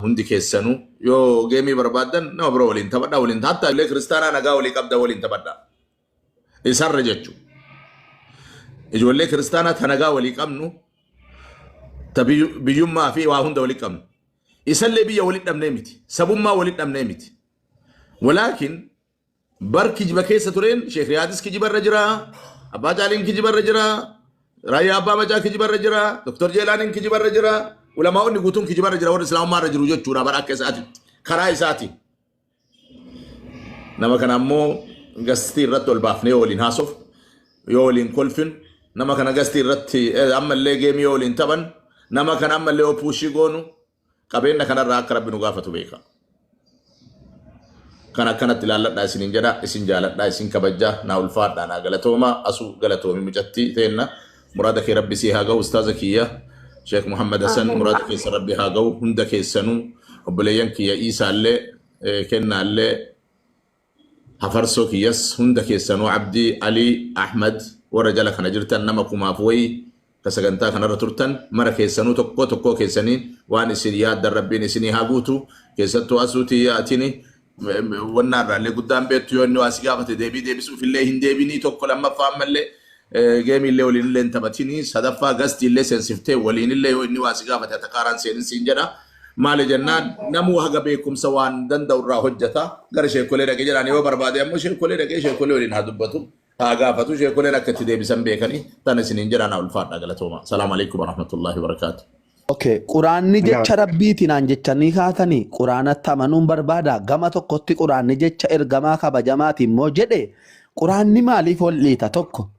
Hundi keessanu yoo geemii barbaaddan nama biro waliin taphadha waliin hatta illee kiristaanaa nagaa walii qabda waliin taphadha. Isarra jechu. Ijoollee kiristaanaa ta nagaa walii qabnu ta biyyu- biyyummaa fi waa hunda walii qabnu. Isallee biyya walii dhabnee miti. Sabummaa walii dhabnee miti. Walaakin Bar kijiba keessa tureen Sheek Riyaadis kijiba irra jira, Abbaa Caaliin kijiba irra jira, Raayyaa Abbaa Macaa kijiba irra jira, Dr. Jeelaaniin kijiba irra jira, ulamaa'onni guutuun kijiba irra jira warri Islaamummaa irra jiru jechuudha bara akka isaatitti karaa isaatiin. Nama kana ammoo gastii irratti ol baafnee yoo waliin haasofnu, yoo waliin kolfinu, nama kana gastii irratti eh, ammallee geemii yoo waliin taphannu, nama kana ammallee yoo puushii goonu, Qabeenna kana irraa akka Rabbi nu gaafatu beeka. Kana akkanatti ilaalladhaa isiniin jedha, isin jaaladhaa, isin kabajja, naa ulfaadhaa, naa galatooma, asu galatoomi mucatti teenna. Muraada kee Rabbi sii haa gahu ustaaza kiyya. Sheek Muhammad Hasan Amiin. muraada keessa Rabbi haa gahu hunda keessanuu obboleeyyan kiyya Iisaallee eh, Kennaallee Hafarsoo kiyyas hunda keessanuu Abdi, Ali, Ahmed warra jala kana jirtan nama kumaaf wayii ka sagantaa kanarra turtan mara keessanuu tokkoo tokkoo keessanii waan isin yaaddan Rabbiin isinii haa guutu keessattuu Asuu tiyya atini wannaa irraallee guddaan beektu yoo inni waa si gaafate deebii deebisuuf illee hin deebinii tokko lammaffaa ammallee geemii illee waliin illee hin taphatinii sadaffaa gastii illee seensiftee waliin illee yoo inni waa si gaafate atakaaraan seenin siin jedha Maali jennaan namuu haga beekumsa waan danda'u irraa hojjeta gara sheekolee dhaqe jedhaan yoo barbaade ammoo sheekolee dhaqee sheekolee waliin haa dubbatu haa gaafatu sheekoleen akka itti deebisan beekanii tan isiniin jedhaan ulfaadha galatooma. Salaamu alaikum warahmatullahi wabarakaatu. Okay, quraanni jecha rabbiiti naan jechanii kaatanii quraanatti amanuun barbaada gama tokkotti quraanni jecha ergamaa kabajamaati immoo jedhe quraanni maaliif ol dhiita tokko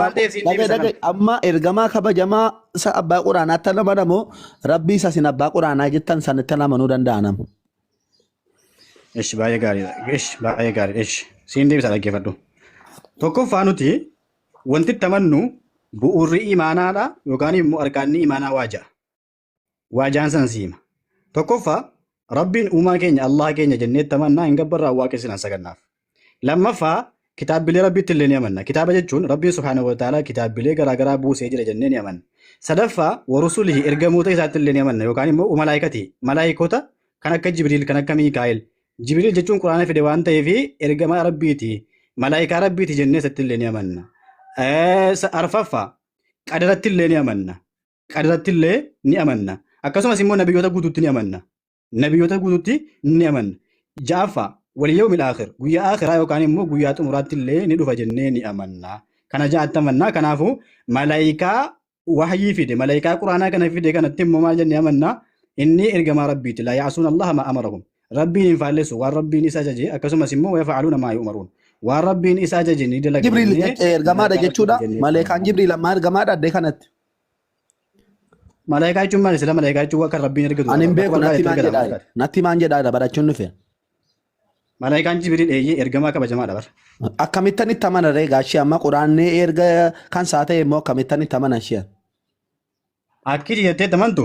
waan ta'eef siin Dhagay deebisa kan. dhagay amma ergamaa kabajamaa isa abbaa quraanaatti nama namu rabbii isa isin abbaa quraanaa jettan sanitti nama nu danda'a namu. Ish baay'ee gaariidha. Ish baay'ee gaariidha. Ish siin deebisa dhaggeeffadhu. Tokkoffaa nuti wanti itti amannu bu'uurri imaanaadha yookaan immoo arkaanni imaanaa waa ja'a. waa jaan san siima. Tokkoffaa Rabbiin uumaa keenya Allaha keenya jennee itti amannaa hin gabbarraa waaqessinaan sagannaaf. Lammaffaa kitaabbilee Rabbiitti illee ni amanna. Kitaaba jechuun Rabbiin subhaanahu wa ta'aalaa kitaabbilee garaagaraa buusee jira jennee ni amanna. Sadaffaa warusulihi ergamoota isaatti illee ni amanna yookaan immoo umalaayikati malaayikoota kan akka Jibriil kan akka Miikaa'el. Jibriil jechuun Quraana fide waan ta'eef ergamaa Rabbiiti malaayikaa Rabbiiti jennee isatti illee ni amanna. Eh, sa- Arfaffaa qadaratti illee ni amanna. qadarratti illee ni amanna. Akkasumas immoo nabiyyoota guutuutti ni amanna. Nabiyyoota guutuutti ni amanna. Ja'affaa waliyyoomil aakhir guyyaa aakhiraa yookaan immoo guyyaa xumuraatti illee ni dhufa jennee ni amanna. Kana ja'atti amanna. Kanaafuu malaayikaa wahyii fide malaayikaa quraanaa kana fide kanatti immoo maal jennee amanna? Inni ergamaa rabbiiti. Laa ya'asuun allaha maa amarahum. Rabbiin hin faallessu waan rabbiin isa ajaje akkasumas immoo wayafa'aluuna maa yu'maruun. Waan rabbiin isa ajaje ni dalaga Jibriil jennee ergamaadha malaayikaa jechuudha. rabbiiti jennee Maleekaan amanna. Jibriil ammaa ergamaadha addee kanatti. Malaayikaa jechuun maali? Sila malaayikaa jechuun waan kan rabbiin ergitu. Ani hin beeku Bakka natti maan ergamaa jedhaa ergamaa. natti maan jedhaa barachuun dhufe. Malaayikaan Jibriil eeyyee ergamaa kabajamaadha bara. Akkamittan itti amana ree gaashee amma quraannee erga kan isaa ta'e immoo akkamittan itti amana isheen. Akkiti jettee tamantu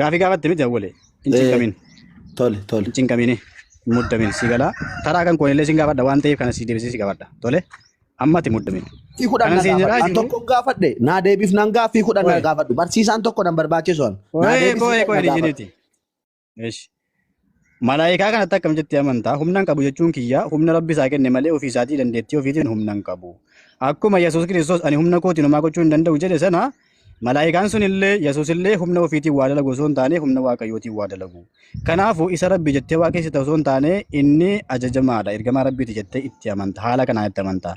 Gaafii gaafatte miti awwalee. Hin Eh. cinqamin. Tole tole. Hin cinqamini. Hin muddamin si galaa. Taraa kan koonillee sin gaafadha waan ta'eef kana si deebisee si gaafadha. Tole. Ammati muddamin. Fi kudhan Kanan na siin jedhaa gaafadhu. An jiru. tokko gaafadhe. Naa deebiif nan gaafii kudhan na Wayi. gaafadhu. Barsiisaan tokko nan barbaachisu an. Naa Kooyee deebisii kooyee kudhan na kooyee gaafadhu. dijiiniti. Eesh. Malaayikaa kanatti akkam jettee amantaa? Humnaan qabu jechuun kiyyaa humna rabbi isaa kenne malee ofii isaatii dandeettii ofiitiin humnaan qabu. Akkuma Yesuus Kiristoos ani humna kootiin homaa gochuu hin danda'u jedhe sana malaayikaan sun illee Yesuus illee humna ofiitiin waa dalagu osoo hin taane humna waaqayyootiin waa dalagu. Kanaafuu isa rabbi jettee waaqessita osoo hin taane inni ajajamaadha ergamaa rabbiiti jettee itti amanta haala kanaan itti amanta.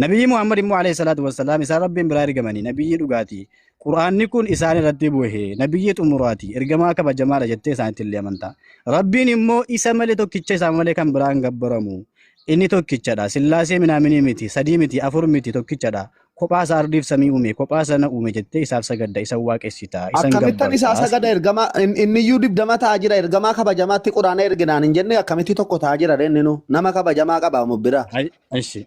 Nabiyyi Muhammad immoo alayhi salaatu wassalaam isaan rabbiin biraa ergamanii nabiyyii dhugaatii Qur'aanni kun isaan irratti bu'e nabiyyii xumuraati ergamaa kabajamaadha jettee isaanitti illee amantaa. Rabbiin immoo isa malee tokkicha isaa malee kan biraa hin gabbaramu. Inni tokkichadha. Sillaasee minaaminii miti, sadii miti, afur miti, tokkichadha. Kophaa isaa ardiif samii uume, kophaa sana uume jettee isaaf sagadda, isa waaqessita, isa hin Akkamittan gabbarta. isaa sagada ergamaa in- inniyyuu dibdama ta'aa jira ergamaa kabajamaatti quraana erginaan hin jenne akkamitti tokko ta'aa jira reenni nu nama kabajamaa qaba mu bira. Ay- Ashi.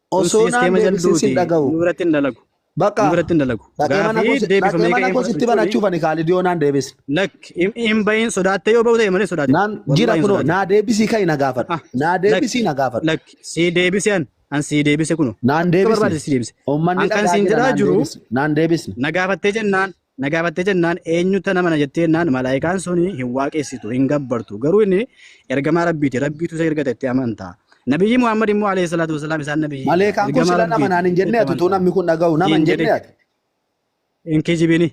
Osoo Ussiis naan keema deebisin sin jalduuti. dhaga'u. Nu biratti hin dalagu. Nu Baqa biratti hin dalagu. dhaqee mana Gaafii koo si- dhaqee deebifamee mana ka'ee koo sitti fudhachuuni. banachuuf ani Kaalidii yoo naan deebisin. Lakk hin- hin bahin sodaattee yoo bahu ta'e malee sodaatin. Naan jira Wallahi hin kunoo sodaatin. naa deebisii ka'i na gaafadhu. Ah, Naa lakk deebisii na gaafadhu. lakk sii deebise an an sii deebise kuno. Naan Akka deebisne. barbaade sii deebise. Uummanni An kan dhagaa siin jira jedhaa naan jiru deebisne. Naan deebisne. na gaafattee jennaan Na gaafattee jennaan eenyutu nama na jettee jennaan malaayikaan sun hin waaqessitu hin gabbartu garuu inni ergamaa rabbiiti rabbiitu isa ergate itti amanta. Nabiyyii Muhammad immoo alayhi salaatu wasalaam isaan nabiyyii Maleekaan kun ergamaa sila nama naan hin rabbiiti jenne itti ati utuu amanta. namni kun dhaga'u nama hin Hin jenne jedhe. ati. Hin kijibini.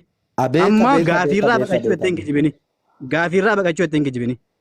Abeeka Amma beeka beeka gaafiirraa beeka baqachuu beeka. itti hin kijibini. Gaafiirraa baqachuu itti hin kijibini.